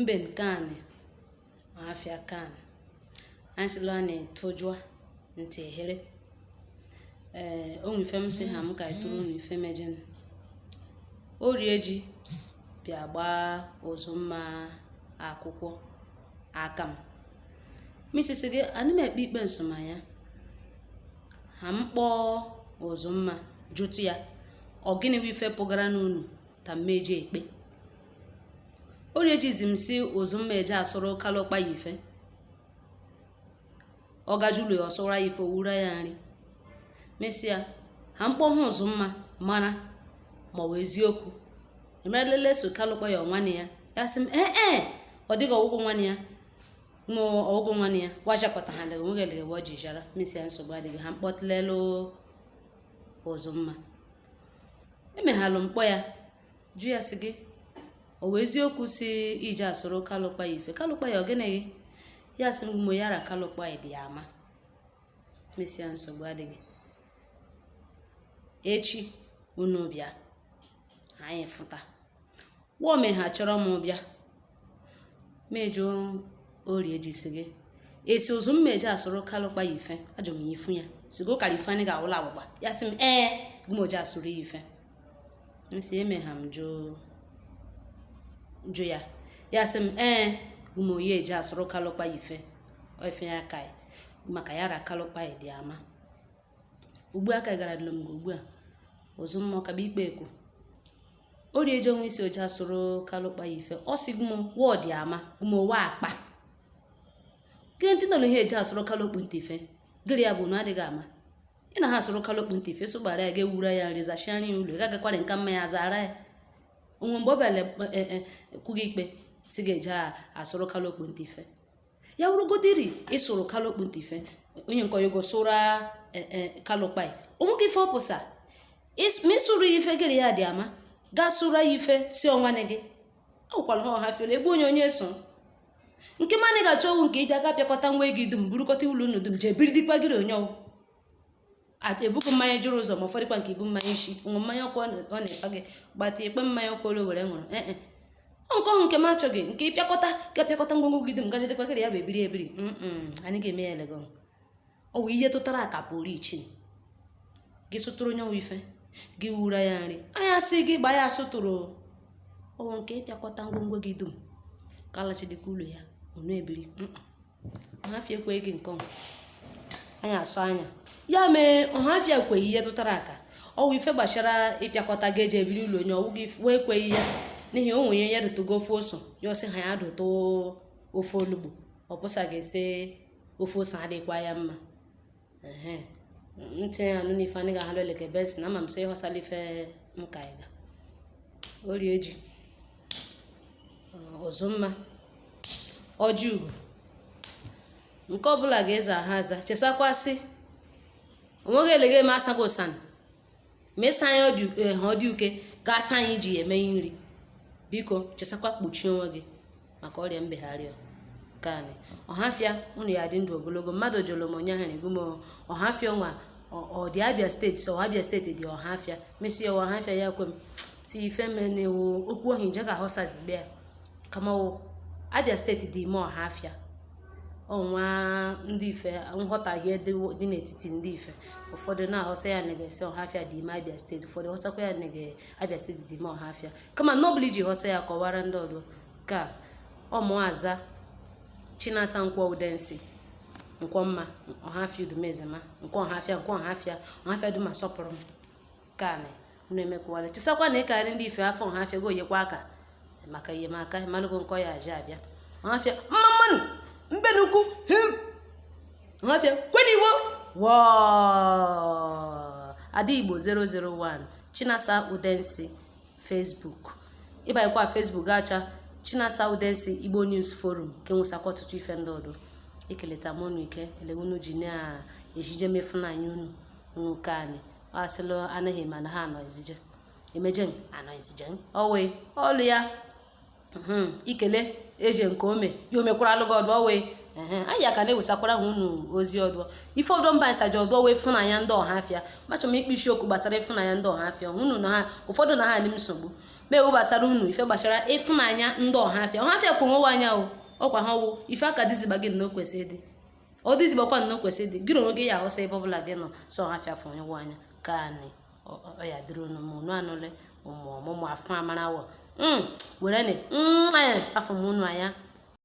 mben ka anị ma afịa ka anị anyị sịlụ a na-etụjụa ntị ehere ee o nwe ife m sị ha m ka etụrụ unu ife mejin Orieji bịa gbaa Ụzụmma akwụkwọ aka m misisi gị anị m ekpe ikpe nsọmanya ha m kpọọ Ụzụmma jụtụ ya ọ gịnị wụ ife pụgara n'unu ta m meji ekpe Orieji zi m si Ụzụmma eje asụrụ Kalụ Okpai ife ọ gajulu ya ọ sụra ya ife o wura ya nri m sị ya ha m kpọọ Ụzụmma mara ma ọ wụ eziokwu emerelele si Kalụ Okpai ọ nwanne ya ya sị m ee ee ọ dịghị ọ wụghị nwanne ya ma ọ wụghị nwanne ya wajakọta ha lega nweghị lega ọ ji jara m sị ya nsogbu adịghị ha m kpọtụlelụ Ụzụmma emeghalụ m kpọọ ya jụ ya sị gị ọ wụ eziokwu si i je asụrụ Kalụ Okpai ife Kalụ Okpai ọ gịnị gị ya sị mgbe ya ra Kalụ Okpai dị ama m sị ya nsogbu adịghị echi unu bịa anyị fụta wo me ha chọrọ m bịa m jụọ Orieji sị gị i si Ụzụmma eje asụrụ Kalụ Okpai ife ajụ m ya ifu ya sigo kara ife anyị ga-awụla agbụgba ya sị m ee gụmo je asụrụ ya ife m si emeha m jụọ ya ya sị m ee gụmoyi eje asụrụ Kalụ Okpai ife ife ya ka maka ya ra Kalụ Okpai dị ama ugbu a ka gara dịlụ m ugbu a Ụzụmma kaba ikpe ekwu Orieji onwe isi o je asụrụ Kalụ Okpai ife ọ sị gụmo wọ dị ama gụmo wa akpa gị ndị nọ n'ihe eje asụrụ kalụ okpu ntị ife gịrị ya bụ unu adịghị ama ị na ha asụrụ kalụ okpu ntị ife sụgbara ya ga-ewura ya nri zachia nri ụlọ ị gagakwarị nka mma ya zara ya onwe mgbe ọ bịara kwughị ikpe si ga-eje asụrụ kalụ okpu ntị ife ya wụrụgodiri ị sụrụ kalụ okpu ntị ife onye nke oyogo sụra Kalụ Okpai onwe gị ife ọ pụsa Ịs- ma ị sụrụ ya ife gịrị ya dị ama gaa sụra ya ife si ọ nwanne gị awụkwala ha ọha fiole egbu onye onye so nke ma anyị ga-achọ ọ wụ nke ị bịa ga-apịakọta ngwa gị dum burukọta ụlọ unu dum jee biri dịkwa gịrị onye ọ wụ ebugo mmanya jụrụ ụzọ ma ụfọdụkwa nke ibu mmanya isi ṅụ mmanya ọkụ ọ na-ekpa gị gbata ikpe mmanya ọkụ olu were ṅụrụ ee e. nke ọhụ nke m achọghị nke ịpịakọta ga-apịakọta ngwongwo gị dum gaje dịkwa ya bụ ebiri ebiri anyị ga-eme ya legon ọ wụ ihe tụtara aka pụrụ iche gị sụtụrụ onye nwe ife gị wura ya nri anya sị gị gbaa ya asụtụrụ ọ wụ nke ị pịakọta ngwongwo gị dum ka alachidịkwa ụlọ ya ọ na-ebiri ọhafịa ekweghị gị nke ọma anyị asụ anya ya mee ọhafịa ekweghị ihe tụtara aka ọ wụ ife gbachara ịpịakọta ga eji ebiri ụlọ onye ọ wụ gị wee ekweghị ya n'ihi o nwere ya dụtụgo ofe oso ya ọ sị ha ya dụtụ ofe olugbo ọ pụsa ga-esi ofe oso adịkwa ya mma ehe ntị ya nụ n'ife anyị ga-ahalụ eleke bens na ama m sị ịghọsala ife m ka anyị ga orie ji ọzọ mma ọjị ugo nke ọbụla ga-eze aha aza chesakwasị onweghị elege m asago ụsan mesa anyị ọdị eh, ha ọdị uke ga-asa anyị ji eme nri biko chesakwa kpuchie onwe gị maka ọrịa mbegharị kanị ọhafịa unu ya dị ndụ ogologo mmadụ jụrụ m onye ha na-egwu m ọhafịa ọnwa ọ- ọ dị abịa steeti sọ abịa steeti dị ọhafịa mesịa ọhafịa ya kwe m si ife menewo okwu ohi nje ka họsazibe ya kamawo Abia steeti dị ime ọhafịa ọnwa ndị ife nghọtahie dị n'etiti ndị ife ụfọdụ na-ahọsa ya na ga-esi ọhafịa dị ime abịa steeti ụfọdụ họsakwa ya na abịa steeti dị ime ọhafịa kama na ọbụla ị ji họsa ya kọwara ndị ọdụ ka ọ mụ aza chinasa nkwọ udensi nkwọ mma ọhafịa udumezema nke ọhafịa ọhafịa dum asọpụrụ m kanị unu emekwuwala chesakwa na ịkarị ndị ife afọ ọhafịa goyekwa aka maka enyemaka malụgo nkọ ya aja abịa ọhafịa mma mma nụ mben ukwu him ọhafịa kweniwo wọọ ada igbo 001 chinasa udensi facebook ịbanyekwa facebook ga-acha chinasa udensi igbo news forum nke nwesakwa ọtụtụ ife ndị ọdụ ekeleta m unu ike ele unu ji na-ejije mefunanya unu kanị asịlụ anaghị mana ha anọ ezije emeje anọ ezije owe ọlụ ya hmm, ikele eje nke ome ya omekwara alụgị ọdụ owe anyị aka na-ewesakwara ha unu ozi ọdụ ife ọdụ mba anyị saji ọdụ wee fụnanya ndị ọhafịa machọ m ikpe okwu gbasara ịfụnanya ndị ọhafịa unu na ha ụfọdụ na ha adị m nsogbu ma ewu gbasara unu ife gbasara ịfụnanya ndị ọhafịa ọhafịa fụ onwe anya o ọkwa ha ọ wụ ife aka dịziba gị na o kwesịrị ịdị ọ dịzibakwa na o kwesị dị gịrị onwe gị ya ahụsa ebe ọbụla gị nọ sọ ọhafịa fụ onwe anya kanị ọ ya dịrị unu mụ unu anụle ụmụ ọmụmụ afọ amarawo mm, were nị mm, afụ m unu anya